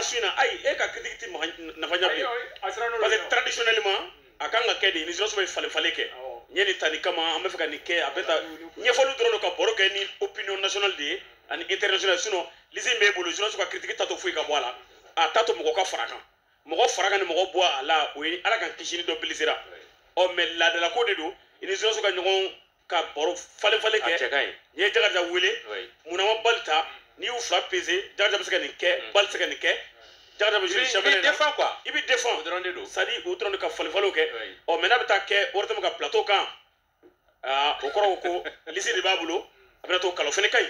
su in na ayi e ka critique tɛ nafa ɲa bilen parce que traditionnellement a kan ka kɛ de ni joso bɛ falen falen kɛ n ye nin ta nin kama an bɛ fɛ ka nin kɛ a bɛ ta ɲɛfɔli dɔrɔn don ka baro kɛ ni opinion nationale de ye ani international sinon lisi min b'e bolo joso ka critique t'a to foyi ka bɔ a la a t'a to mɔgɔ ka fara kan mɔgɔ fara kan ni mɔgɔ bɔ a la o ye ala k'an kisi ni dɔ blesséra ɔ mais laadalako de don i ni joso ka ɲɔgɔn ka baro falen falen kɛ n'i ye jakarija wele munna ma bali ta n'i y'u fila peze jakarija bɛ se ka nin kɛ mm. bali se ka nin kɛ jakarija bɛ jiri sɛbɛn na i bɛ defan o dɔrɔn de don c'est-à-dire o dɔrɔn de ka falen falenw kɛ ɔ mais n'a bɛ taa kɛ ortm ka plateau kan o kɔrɔ ko lisi de b'a bolo a bɛna to kalo fana ka ɲi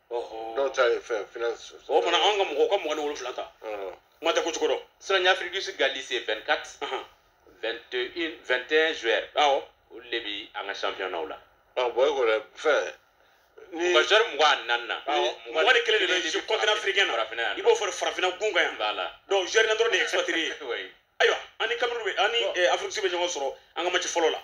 dɔw ta ye fɛn finance o mana anw ka mɔgɔw ka mugan ni wolonfila ta kuma tɛ ko cogo dɔ sisan y'afrique du sud ka lisi 24 21 21 joueurs awɔ olu de bi an ka championnat la bon e ko dɛ fɛn ni ka joueur mugan ani naani na mugan ni kelen de bɛ jouer continent africain na i b'o fɔ farafinna gun kan yan donc joueur na dɔrɔn de ye expatrié ayiwa an ni cameroun bɛ an ni afrique du sud bɛ ɲɔgɔn sɔrɔ an ka match fɔlɔ la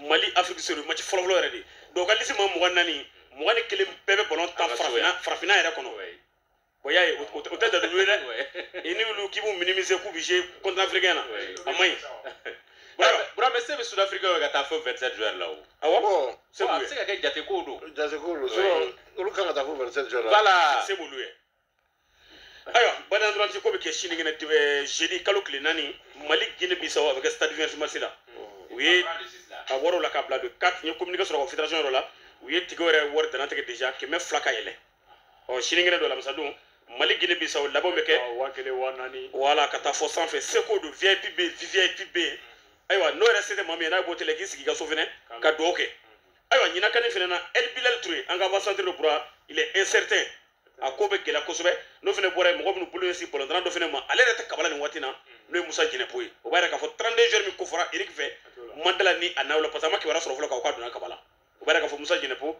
mali afrique sud maci fɔlɔfɔlɔ yɛrɛ de dɔw ka lisi ma mugan ni naani mugan ni kelen bɛɛ bɛ balon tan farafina farafina yɛrɛ kɔnɔ o y'a ye o tɛ dalilu ye dɛ i ni olu k'i b'u minimiser k'u bɛ jouer continent africain na a man ɲi bura mais se bɛ sud africain ye ka taa fo 27 joueurs la o awɔ se b'u ye a bɛ se ka kɛ jate kow don jate kow don olu kan ka taa fo 27 joueurs la voilà se b'olu ye ayiwa baden ntolatan ko bɛ kɛ sinikɛnɛ eh, jeudi kalo tile naani mali guine bisawo a bɛ kɛ stade vingt-six mars la u ye a wɔriw la ka bila don 4 n ye communiqué sɔrɔ ka fédération yɔrɔ la u ye ticket yɛrɛ wari dantigɛ déjà kɛmɛ fila ka yɛlɛn ɔ sinikɛnɛ don alamisa don mali guine bisawo labɛnw bɛ kɛ waa kelen waa naani wala ka taa fo sanfɛ seko don vip bɛ yen vvip bɛ yen ayiwa n'o yɛrɛ se tɛ maa min ye n'a bɔ télé la k'i sigi i ka so fɛnɛ ka dugawu kɛ ayiwa ɲinan can in fɛnɛ na el bilal ture an ka avant centre de bura il est incertain a ko bɛ gɛlɛya kosɛbɛ n'o fana bɔra yen mɔgɔ minnu bolo ɲɛsin balontanna dɔ fana ma ale yɛrɛ tɛ kabala nin waati na n'o ye musa jɛnɛpo ye o b'a yira k'a fɔ 32 joueurs min ko fɔra eric fɛ n ma da a la ni a na o la parce que a ma kibaruya sɔrɔ fɔlɔ k'a fɔ k'a donna kabala o b'a yira k'a fɔ musa jɛnɛpo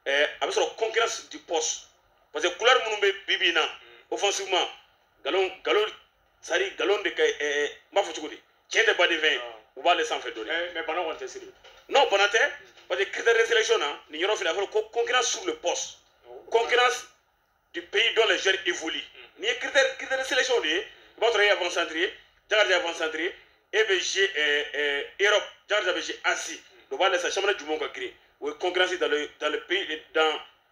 ɛɛ a bɛ sɔrɔ concurrence du poste parce que couloir minnu bɛ bi bi in na offensivement galon galon sari galon de ka ɛ ɛ n b'a fɔ cogo di tiɲɛ tɛ baden fɛn ye u b'ale sanfɛ dɔɔni eh, mais bana kɔni tɛ siri non bana tɛ parce que critère de sélection na nin yɔrɔ fila a fɔra ko concurrence sur le poste oh, concurrence du pays dont les joueurs évoluent mm. n'i ye critère critère de sélection de ye i b'a sɔrɔ e ye avant centre ye jakarija avant centre ye e bɛ jouer eh, eh, europe jakarija bɛ jouer asie mm. dɔ b'a lajɛ sa jamana jumɛnw ka girin o ye concurrence dans le dans le pays dans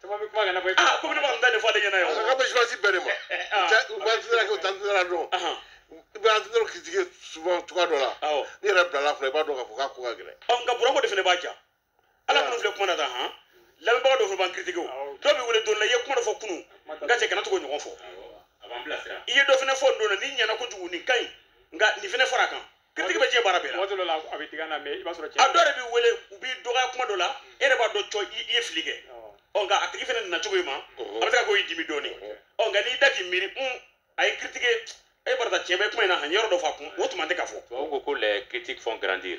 caman bɛ kuma kana fɔ i aa ko ne b'a da de fɔ ale ɲɛna yan a ka bɛ suwasi bɛɛ de ma u b'an tɛgɛ kɛ u t'an tɛgɛ dɔn i b'an tɛgɛ kiritike souvent cogoya dɔ la ne yɛrɛ bilala fila i b'a dɔn k'a fɔ k'a ko ka gɛlɛn nka burako de fana b'a ja ala kɔrɔ filɛ kuma na tan han lamɛnbaga dɔ fana b'an kiritike o dɔw b'i wele don la i ye kuma dɔ fɔ kunu nka cɛ kana tugu k'o ɲɔgɔn fɔ i ye dɔ fana fɔ n don na nin ɲɛna kojugu nin ka ɲi nka nin fana fara a kan kiritigi bɛ diɲɛ baara bɛɛ la waati dɔ la a bɛ digi an na mɛ i b'a sɔrɔ a dɔw yɛrɛ b'i wele u b'i dɔgɔya kuma dɔ la e yɛrɛ b'a dɔn cɔ i ye fili kɛ ɔ nka a tigi fana nana cogo in ma a bɛ se ka k'o y'i dimi dɔɔni ɔ nka n'i y'i da k'i miiri un a y'i kiritike e barata tiɲɛ bɛ kuma in na han yɔrɔ dɔ fɔ a kun o tuma tɛ ka fɔ tubabu ko ko les critiques font grandir